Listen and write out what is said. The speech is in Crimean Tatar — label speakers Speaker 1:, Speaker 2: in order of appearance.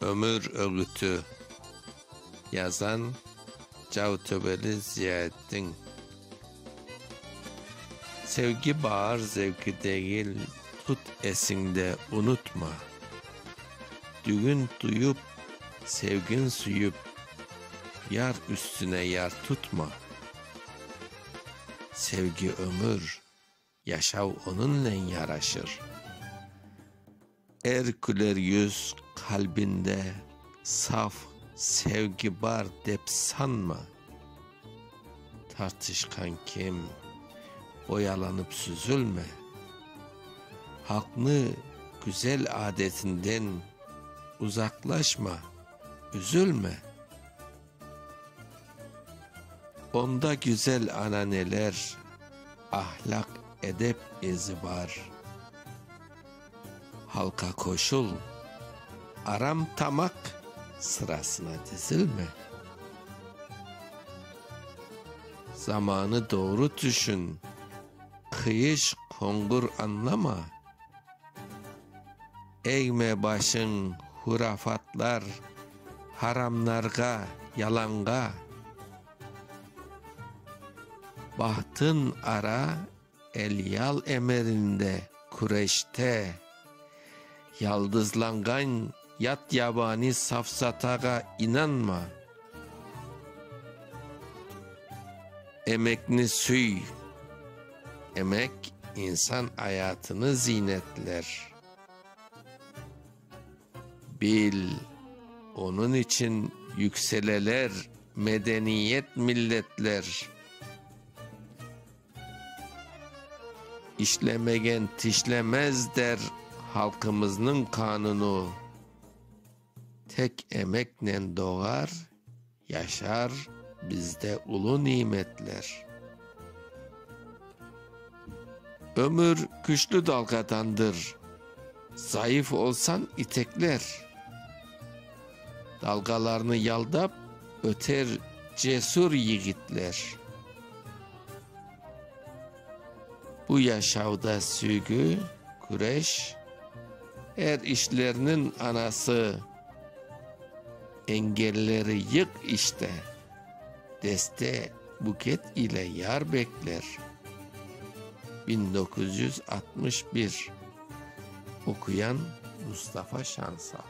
Speaker 1: Ömür ögüti. Yazan, Cavtöveli Ziyaeddin. Sevgi baar zevki degil, tut esiñde, unutma. Dügün tuyup, sevgin süyüp, yar üstüne yar tutma. Sevgi ömür. Yaşav onıñnen yaraşır. Er küler yüz qalbinde saf sevgi bar dep sanma. Tartışqan kim, boyalanıp süzülme. Halqnı güzel adetinden uzaqlaşma, üzülme. Onda güzel ananeler, ahlâq, edep ezi bar. Halqa qoşul, aram tamaq sırasına dizilme. Zamanı doğru tüşün, qıyış, qoñğur añlama. Eğme başıñ hurafatlar, haramnarğa, yalanğa, Bahtın ara, elyal emirinde, küreşte, Yaldızlanğan yat-yabani safsatağa inanma, Emekni süy, emek insan ayatını ziynetler. Bil, onıñ içün yükseleler medeniyet milletler. İşlemegen tişlemez der halqımıznıñ qanunu. Tek emeknen doğar. Yaşar bizde ulu nimetler. Ömür küçlü dalğadandır. Zayıf olsañ itekler. Dalğalarnı yaldap öter cesür yigitler. Bu yaşavda süygü, küreş, er işlerniñ anası. Engelleri yıq işte, deste buket ile yar bekler, biñ doquz yüz altmış bir, oquyan Mustafa Şansal.